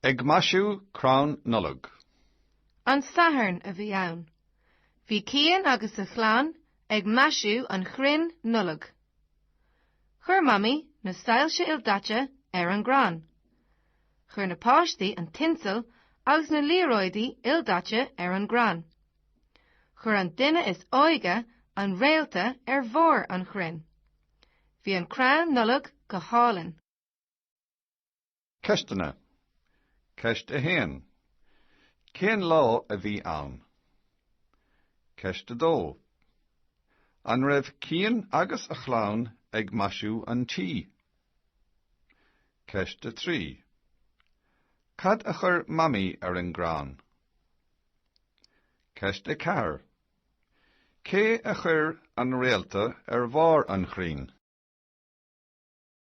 Ag maisiú crann Nollag. An Satharn a bhí ann. Bhí Cian agus a chlann ag maisiú an chrainn Nollag. Chuir Mamaí na soilse ildaite ar an gcrann. Chuir na páistí an tinsel agus na liathróidí ildaite ar an gcrann. Chuir an duine is óige an réalta ar bharr an chrainn. Bhí an crann Nollag go hálainn. Ceisteanna Ceist 1. Cén lá a bhí ann? Ceist 2. An raibh Cian agus a chlann ag maisiú an tí? Ceist 3. Cad a chuir Mamaí ar an gcrann? Ceist 4. Cé a chuir an réalta ar bharr an chrainn?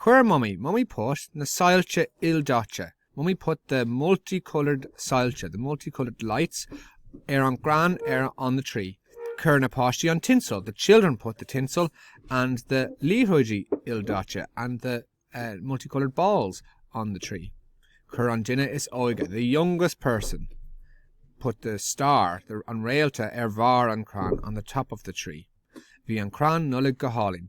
Chuir Mummy, Mummy Put, na soilse ildaite, Mummy put the multi-coloured soilse, the multi-coloured lights, ar an gcrann ar on the tree. Chuir na páistí an tinsel, the children put the tinsel and the liathróidí ildaite and the uh multi-coloured balls on the tree. Chuir an duine is óige, the youngest person, put the star, the an réalta ar bharr an crann, on the top of the tree. Bhí an crann Nollag go hálainn.